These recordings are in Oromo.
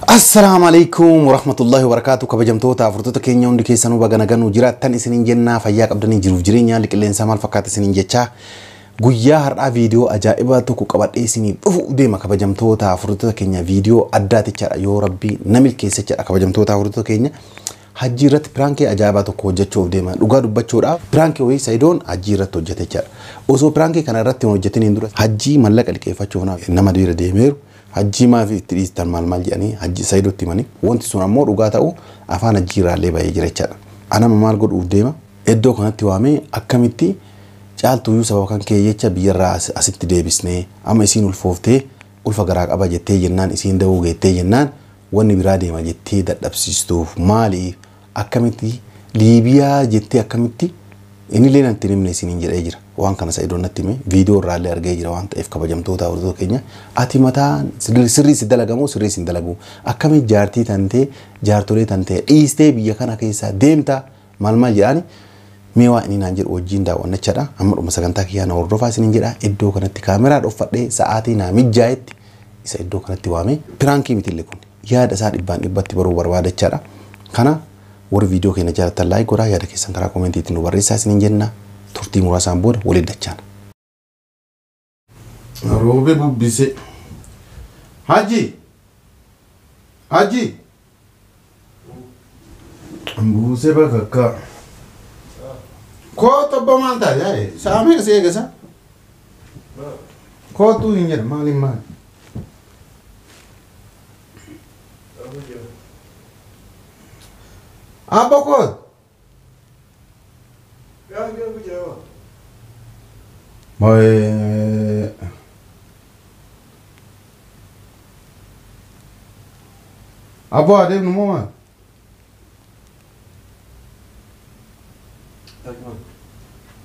Assalaamu alaikum warahmatullahi wabarakatuh kabajamtoota afurtoota keenya hundi keessanuu baga nagaan nu jiraattan isiniin jennaa fayyaa qabdanii jiruuf jireenya haalli qilleensaa maal fakkaata isiniin jechaa guyyaa har'aa viidiyoo ajaa'ibaa tokko qabadhee isiniif dhufuuf deema kabajamtoota afurtoota keenya viidiyoo addaatichaadha yoo rabbii na milkeessechadha kabajamtoota afurtoota keenya hajjii irratti piraankii ajaa'ibaa tokko hojjechuuf deema dhugaa dubbachuudhaaf piraankii wayii sayidoon hajjii irratti hojjetechaadha osoo piraankii kana irratti hin hojjetin hin dura hajjii mallaqa liqeeffachuuf nama dira deemeeru Hajjii maafi itti dhiistan maal maal jedhanii hajji sayidotti himani wonti sun ammoo dhugaa ta'uu afaan hajjii irraallee bahee jira jechaadha an amma maal godhuuf deema eddoo kanatti waamee akkamitti caaltuuyyuu sababa kan kee jecha biyyarraa asitti deebisne amma isiin ulfooftee ulfa garaa qaba jettee jennaan isiin da'uu geettee jennaan wanni biraa deema jettee dadhabsiistuuf maali Akkamitti liibiyaa jettee akkamitti inillee natti hin himne isiniin jedhee jira. Waan kana Sa'idoon natti hime viidiyoo irraallee argee jira waan ta'eef kabajamtoota hordoftoota keenya ati mataa sirrii si dalagamoo sirrii si hin dalaguu akkamitti jaartii tantee jaartolee tantee dhiistee biyya kana keessaa deemta maal maal jedhaani mee waa inni naan jedhu wajjin daawwannachaadha amma dhuma sagantaa kiyyaa na hordofaa isiniin jedha iddoo kanatti kaameraa dhoffadhee sa'aatii naa mijjaayetti isa iddoo kanatti waamee piraankii mitille kun yaada isaa dhibbaan dhibbatti baruu barbaadachaadha kana warri viidiyoo keenya jaalattan laayik godhaa yaada keessan karaa koomentiitti nu barreessaa isiniin jenna turtii muraasaan booda waliin dachaana. Roobe bubbise. Haji! Haji! Buusee bakakkaa. Kootu abbaa maal taate yaa'e? Sa'a meeqa si eegasa? Kootu hin jedhu maaliin maali? Abba kootu. Aboo haa deemnu moo maal?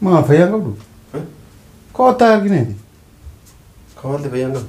Maa fayyaan qabdu? Koottaa argineeti. Kawaalli fayyaan qabu.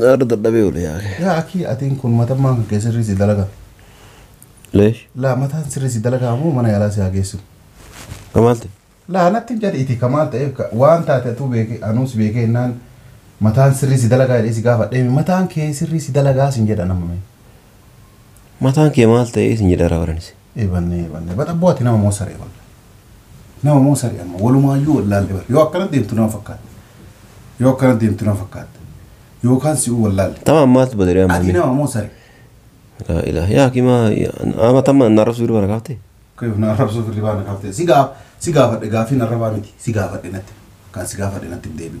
Naarra dadhabee oole yaa kee. Yaa akii atiin kun matammaan kan kee sirrii si dalagaa. Leesh. Laa mataan sirrii si dalagaa moo mana yaalaa si haa geessu. Kamaal ta'e. Laa natti hin jedhi iti kamaal ta'e ka- waan taate atuu beeke anuus beeke hennaan mataan sirrii si dalagaa jedhee si gaafadhee mi mataan kee sirrii si dalagaa sin jedhan amma mee. Mataan kee maal ta'e isin jedhara baranis. Eebanne eebanne bar abboo ati nama moo saree walla nama moo saree amma walumaayyuu wallaalle bar yoo akkana deemtu nama fakkaatte yoo akkana deemtu nama fakkaatte yookaan si'uu wallaalle Tama ammaatu badee ati ammaamee. nama moo saree Laa ilaaha yaa kimaa ama tamma na rabsu irra kaafte. Kayoo na arrabsuu firri baana kaaftee si gaa si gaafadhe gaafii narra baa miti si gaafadhe natti kan si gaafadhe natti hin deebi'u.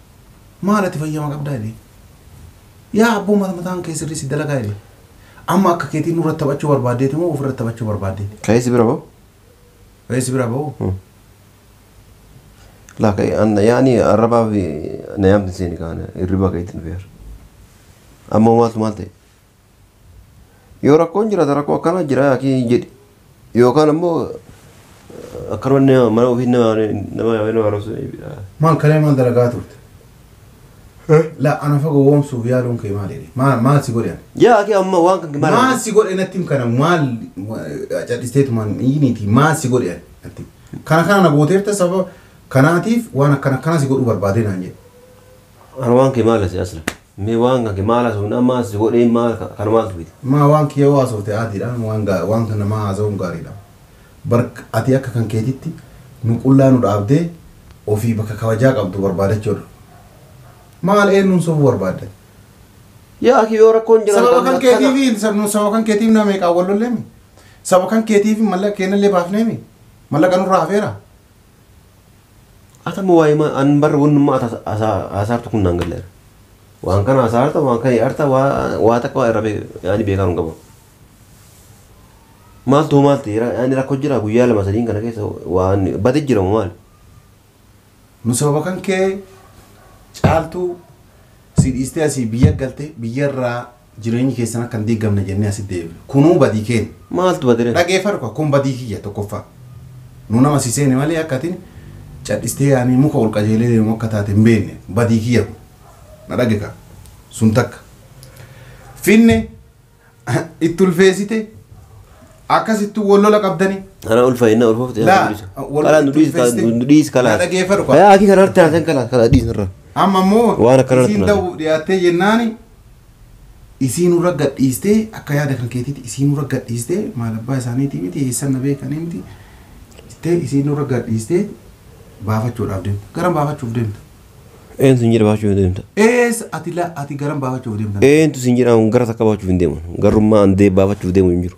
maal ati fayyama qabdaa jedhee. Yaa abboo mata mataan kee sirrii si dalagaa jedhee. Amma akka keetii nurratti taphachuu barbaaddeeti moo ofirratti taphachuu barbaaddeeti? Ka'ee si bira ba'u? Ka'ee si bira ba'u? Hmm. Laa ka'ee anna yaani arrabaa fi na yaamti seeni kaana hirribaa ka'eetti nu fe'ar. Amma maaltu maal ta'e? Yoo rakkoon jiraate rakkoo akkanaa jira yaakii hin jedhi. Yookaan ammoo akkanuma nama mana ofii nama nama yaamee nama arrabsu ni jedha. Maal kalee maal dalagaa turte? La ana fa gowwoomsuuf yaaluun kee maal jedhe? Maal maal si godhe ani? Yaa akii amma waan kan maal Maal si godhe natti him kana maal cadhisteetu maal iyiniiti maal si godhe ani natti him. Kana kana na gooteerta sababa kanaatiif waan akkana akkana si godhuu barbaadee naan jedhe. Ana waan kee maal asi asla mee waan kan kee maal haasofne amma as si godhee maal ka- kana maaltu fide Maa waan kee yoo haasofte aadiidha waan gaa- waan kan namaa haasa'uun gaariidha. Bar ati akka kan keetitti nu qullaa nu dhaabdee ofii bakka kabajaa qabdu barbaadachuudha. Maal eenyuun sobuu barbaadda? yaa akii yoo rakkoon jiran Sababa kan keetiifi sab- nu- sababa kan keetiif nama meeqaan wal lolleemi? Sababa kan keetiif mallaqa keenyallee baafneemi? Mallaqa nurraa hafeera? Atama waayima an bar wannumma ata hasaartu kun naan galleera. Waan kana hasaarta waan kana yaarta waa takka waa irra yaani beekaa hin qabu. Maaltu hoo maalti yaani rakkoo jira guyyaa lama sadiin kana keessa waan bade jira moo maali? Nu sababa kan kee caaltuu si dhiistee asii biyya galte biyyarraa Jireenyi keessan akka hin diigamne jennee asitti deebifna. Kunuu badii keenya. Maaltu bade ree? Dhageeffadhu kaa, kun badii kiyya tokkoffaa. Nu nama si seene malee akka ati cadhistee yaanii muka ol qajeelee deemu akka taate hin beekne. Badii kiyya kun. Na dhage kaa. Sun takka. Finne itti ulfeessite akkasittuu wal lola qabdanii. Ana ulfa inna ulfofte Laa, yaa dhiisa. wal- Kala nu dhiis kala ulfeessite. nu dhiis kala. Na dhageeffadhu kaa. Yaa akii kana harti haasan kala kala dhiis irra. Amma immoo Waan akkana isiin natti ta'uuf dhiyaattee jennaani Isii nurra gad dhiistee akka yaada kan keetiiti isii nurra gad dhiistee maal abbaa isaaniitii miti eessan na beekanii miti jettee isii nurra gad dhiistee baafachuudhaaf deemta. Garam baafachuuf deemta? Eentu sin jedhe baafachuuf hin deemta? Ees ati la ati garam baafachuuf deemta? Eentu sin jedhe an gara takka baafachuuf hin deemu. Garrummaa an dee baafachuuf deemu hin jiru.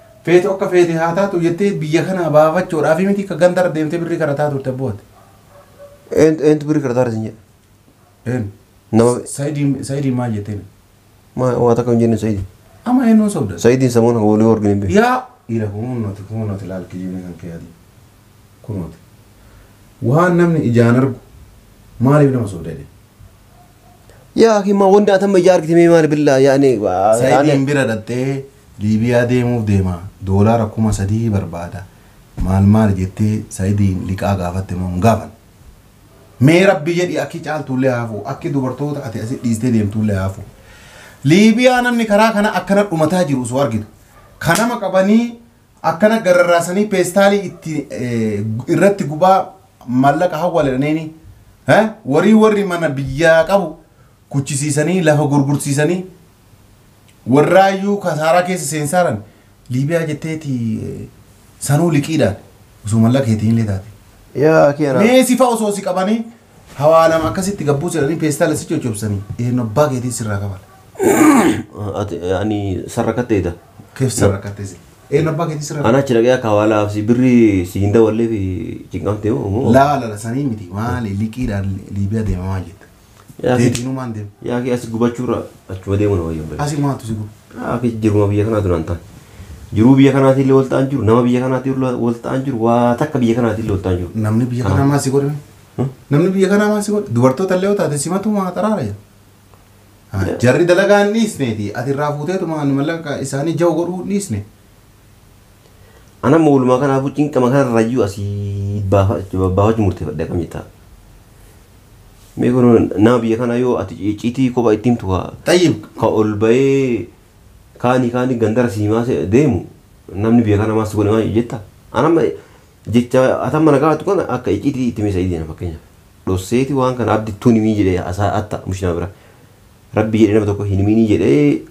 Feetu akka feete haa taatu jettee biyya kanaa baafachuudhaaf miti ka gandarra deemtee birrii kadhataa turte abbooti. Eentu eentu birrii kadhataa irra sin jedhe. Eenyu? Nama Sayidiin Sayidiin maal jetteen? maa waa takka hin jenne Sayidiin. Amma eenyuun sobdan? Sayidiin samuun akka walii wargin hin beeku. Yaa dhiira kunuunnoti kunuunnoti laal kijibni kan kee adii. Kunuuti. Waan namni ijaan argu maaliif nama sobda jedhee? Yaa akii maa wanda atamma ijaa argite mee maali billaa yaani. Sayidiin bira dhaxxee Liibiyaa deemuuf deema doolaara kuma sadii barbaada maal maal jettee Sayidiin liqaa gaafatte moo hin gaafanne. Mee rabbi jedhi akki caaltuullee haa hafu akki dubartoota ati asi dhiistee deemtuullee haa hafu. Liibiyaa namni karaa kana akkana dhumataa jiru osoo argitu. Ka nama qabanii Akkana gararraasanii peestaalii itti irratti gubaa maallaqa hawwaledhaneeni warii warri mana biyyaa qabu kuchisiisanii lafa gurgursiisanii warraayyuu kasaaraa keessa seensaaran liibiyaa jetteeti sanuu liqiidhaan osoo mallaqa keetiinillee taate. Yaa akii anaa. Mee sifa osoo si qabanii Hawaa lama akkasitti gabbuu jedhanii peestaala si coccobsanii eenyu abbaa keetii sirraa kafala. Ati ani sarra katteeta. Keef sirra kattee si. Eenyu abbaa keetii sirraa Ana achi dhaqee akka hawaalaa fi birrii si hin dawallee fi cinqamte moo. Laa lala sanii miti maali liqiidhaan Liibiyaa deemamaa jetta. Yaa fi- Deebiinumaan deema. Yaa fi asi gubachuurra achuma deemuun wayya hin Asi maatu si gubu. Yaa fi jiruma biyya kanaa duraan ta'an. Jiruu biyya kanaatiin illee wal ta'an jiru. Nama biyya kanaatiin illee wal ta'an jiru. Waa takka biyya kanaatiin illee wal ta'an jiru. Namni biyya kanaa maal si godhame? Namni biyya kanaa maal si godha? Dubartoota illee yoo taate simatu maa xaraara jedha. Ah, Jarri dalagaa hin dhiisneeti. Ati irraa fuuteetu maan mallaqa isaanii jau godhuu hin dhiisne. Ana immoo walumaa kanaafuu cinqama kanarrayyuu asii baafachuu murteeffadhe akkam jettaa? Mee kun nama biyya kanaa yoo ati icciitii kophaa itti himtu kaa Xayyib. ka ol bahee kaanii kaanii gandara siimaa se- deemu namni biyya kanaa maal si godhe maal jettaa? Ana amma Jecha atamma na gaafatu kana akka icciitii itti mee Sa'idiina fakkeenyaaf. Dhosseeti waan kana abdi tuun himii jedhee asaa atta mush nama bira. Rabbi jedhee nama tokko hin himinii jedhee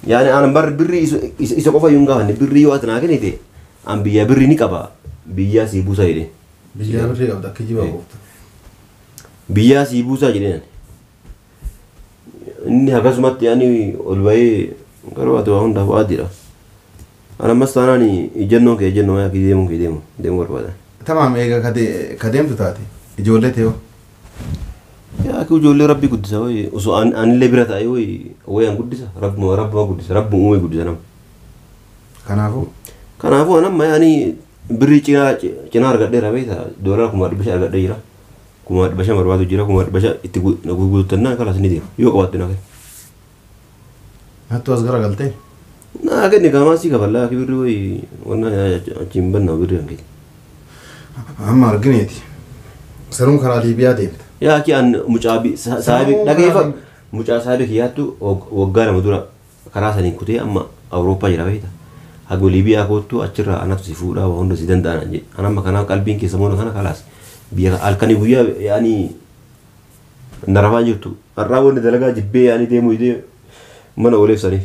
yaani aanan barri birri isa, isa, isa qofa yuun gaafanne birri yoo ati naa kennite an biyyaa birri ni qaba biyyaa sii buusaa jedheen. Biyyaa birri qabda kijiba qofta. Biyyaa sii buusaa jedheen ani. Inni akkasumatti ani ol bahee garuu ati waa hundaaf waadiidha. Ani ammas taanaan ijjannoon kee ijjannoo yaa kee deemuun kee deemu deemuu barbaada. Tamaam eega ka de- ka deemtu taate ijoollee tee hoo? Yaa kee ijoollee rabbi guddisa wayi osoo an- anillee bira taa'ee wayi wayi an guddisa rabbuma rabbuma guddisa rabbuma uumee guddisa nama. Kanaafuu Kanaafuu an amma yaani birrii cinaa cinaa argadheera beektaa doolaara kuma dhibba shan argadhee jira. Kumaa dhibba shan barbaadu jira kumaa dhibba shan itti gurgurtannaan kalas ni deema yoo qabaatte na kenna. Nattu as gara galtee. Naa kenni kaamaa sii kafallaa akka birri wayi wannaa achi hin banna birri kan keeti. Amma argineeti. Saruun karaa Liibiyaa deemta. Yaa kiyaan mucaa saahibi dhageeffa mucaa saahibi kiyyaattu waggaa lama dura Karaa saniin kutee amma Awurooppaa jira beekta. Hago Liibiyaa koottu achirraa anatu si fuudhaa waa hunda si danda'a naan jedhe. An amma kanaaf qalbiin kiyya sammuun kana kalaas biyya kana halkanii guyyaa yaa'anii na rafaa hin jirtu. Har'aa wanni dalagaa jibbee yaa'anii deemuu didee mana ooleef saniif.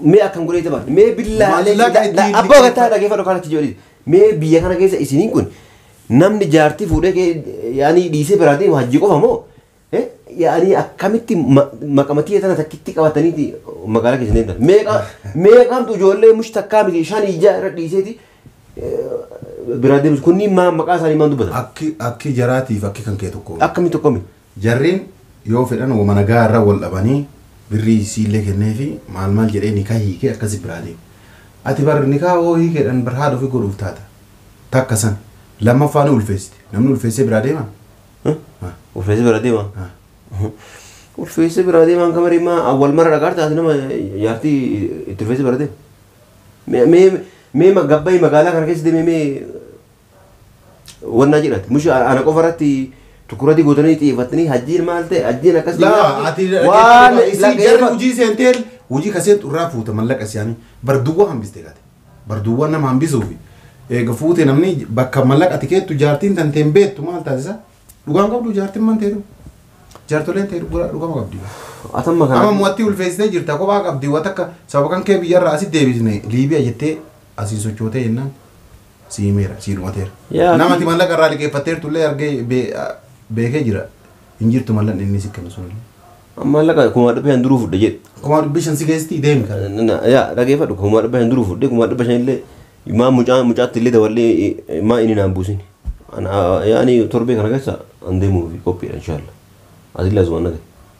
Mee akkan godhee taphadhu. Mee billaa Maallaqa itti hin abbaa gataa liqeeffatu. dhageeffadhu kan itti jedhu. Mee biyya kana keessa isiniin kun namni jaartii fuudhee kee- yaanii dhiisee biraa deemu hajjii qofa moo? Eh, Yaanii akkamitti ma- maqamatii tana takkitti qabataniiti magaalaa keessa deemtan. Meeqa meeqamtu ijoollee mush takkaa miti shan ijaa irra dhiiseeti eh, biraa deemus kunniin maa maqaa isaanii maan dubbatan? Akki akki jaraatiif akki kan kee tokko. Akkamitti akkami? Jarrin yoo fedhan woma nagaa irra wol dhabanii birrii isiillee kenneefi maal maal jedhee nikah hiikee akkasi biraa deema. Ati bar nikah hoo hiikeedhan bar haadha ofii godhuuf taata. Takka san. Lammaffaa ni ulfeessite. Namni ulfeessee biraa deema? Haa. Ulfeessee biraa deema? Haa. Ulfeessee biraa deemaan kamarii maa awwal mara dhagaarta ati nama jaartii itti ulfeessee biraa deema. Mee mee mee gabbayi magaalaa kana keessa deemee mee wannaa jedhati mushi ana qofa irratti tukurati gootanii xiyyeeffattanii hajjiin maal ta'e hajjiin akkas ta'e Laa, ati waan isin jarri laqeema hojii seenteen hojii ka seentu irraa fuuta mallaqa siyaanii barduwwan hambiste gate barduwwan nama hambisuufi eega fuute namni bakka mallaqa ati keettu jaartiin tan teen beektu maal taasisa dhugaan qabdu jaartiin man teeru jaartoleen teeru gura dhugama qabdi atamma kana amma mo'attii ulfeessitee jirta kophaa qabdi waan takka sababa kan kee biyyarraa asi deebisne liibiya jettee Asii sochootee jennaan si himeera, sii dhumateera. Yaa Nama ati mallaqa irraa liqeeffatteertu illee argee bee- a- beekee jira. Hin jirtu mallaqni inni si kennu sun. Maallaqa kumaa dhibba shan duruu fudhe jedhe. Kumaa dhibbi shan si geessitii deemi kan. Na- na- Yaa dhageeffadhu kumaa dhibba shan duruu fudhe kumaa dhibba shan illee maa mucaa mucaatti illee daballee eh, maa inni naan buusin. Ana- Yaani torbee kana keessa an deemuuf qophiidha inshaallah. Ati illee asumaan dhagahi.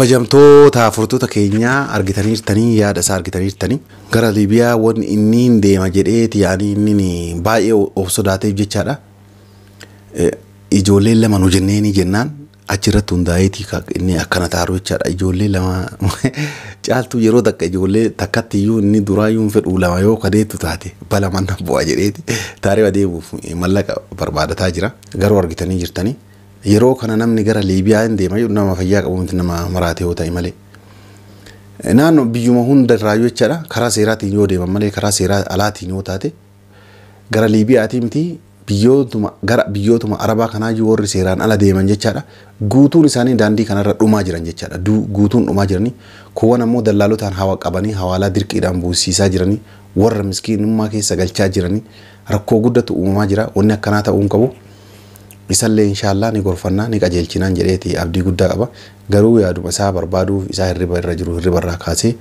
Kabajamtoota furtuta keenyaa argitaniirtanii yaada isaa argitaniirtanii gara Liibiyaa wanni inni hin deema jedheeti yaani inni baay'ee of sodaateef jechaadha. Ijoolleen lama nu jenneenii jennaan achirratti hundaa'eeti inni akkana taaru jechaadha. Ijoollee lama caaltuu yeroo takka ijoollee takkatti iyyuu inni duraa iyyuu hin fedhu lama yoo kadeettu taate bala manna bu'a jedheeti taaree adeemuuf mallaqa barbaadataa jira garuu argitanii jirtanii. Yeroo kana namni gara Liibiyaa hin deema jedhu nama fayyaa qabu miti nama maraatee yoo ta'e malee. Naannoo biyyuma hunda irraayyuu jechaadha karaa seeraatiin yoo deeman malee karaa seeraa alaatiin yoo taate gara Liibiyaatii miti biyyootuma gara biyyootuma Arabaa kanaayyuu warri seeraan ala deeman jechaadha guutuun isaanii daandii kanarra dhumaa jiran jechaadha Du- guutuun dhumaa jiranii kuuwwan ammoo dallaalotaan hawa qabanii hawaalaa dirqiidhaan buusiisaa jiranii warra miskiinummaa keessa galchaa jiranii rakkoo guddatu uumamaa jira wanni akkanaa ta'uu hin qabu. Isallee inshaallaa ni gorfannaa ni qajeelchinaan jedheeti abdii guddaa qaba. Garuu yaaduma isaa barbaaduuf isaa hirriba irra jiru hirriba irraa kaasee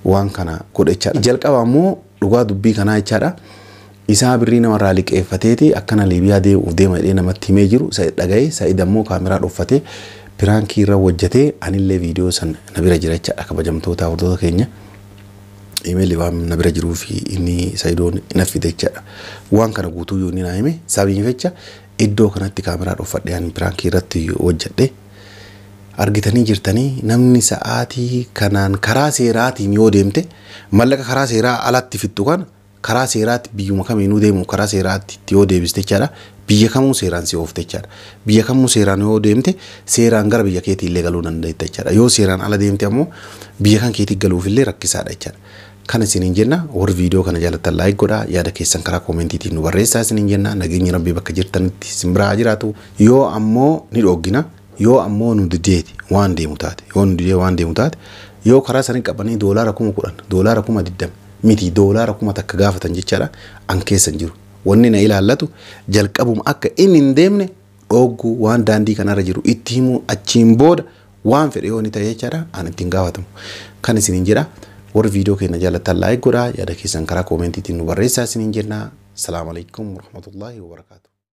waan kana godhe jechaadha. Jalqaba ammoo dhugaa dubbii kanaa jechaadha isaa birrii nama irraa liqeeffateeti akkana Liibiyaa deemuuf deema jedhee namatti himee jiru Sa'id dhaga'ee Sa'id ammoo kaameraa dhoffatee piraankii irra wojjatee anillee viidiyoo san na bira jira jechaadha kabajamtootaa hordota keenya. Imeelli waan na bira jiruu fi inni sayidoon na fide jechaadha. Waan kana guutuu yoo inni naa hime sababiin fecha iddoo kanatti kaameraa dhoofadhee ani piraankii irratti hojjedhe. Argitanii jirtanii namni sa'aatii kanaan karaa seeraatiin yoo deemte mallaqa karaa seeraa alatti fixxu kana Karaa seeraatti biyyuma kamiinuu deemuuf karaa seeraatti yoo deebiste jechaadha. Biyya kamuu seeraan si oofte jechaadha. Biyya kamuu seeraan yoo deemte seeraan gara biyya keetii illee galuu dandeetta jechaadha. Yoo seeraan ala deemte ammoo biyya kan keetii galuuf illee rakkisaadha jechaadha. Kan isiniin jenna warri viidiyoo kana jaalattan laayik godhaa yaada keessan karaa koomentiitiin nu barreessaa isiniin jenna nageenyi rabbii bakka jirtanitti isin biraa haa jiraatu yoo ammoo ni dhooggina. Yoo ammoo nu dideeti waan deemu taate, yoo nu didee waan deemu taate, yoo karaa isaanii qabanii doolaara kuma kudhan, doolaara kuma digdama, miti doolaara kuma takka gaafatan jechaadha, an keessa hin jiru. Wanni na ilaallatu jalqabuma akka inni hin deemne dhoogguu, waan daandii kanarra jiru itti himuu, achiin booda waan fedhe yoo inni ta'e jechaadha, an itti hin gaafatamu. Kan isiniin jedha, warri viidiyoo keenya jaallattan laayik godhaa, yaada keessan karaa koomentiitiin nu barreessaa isiniin jenna. Salaam alaikum warahmatullahi wabarakatuh.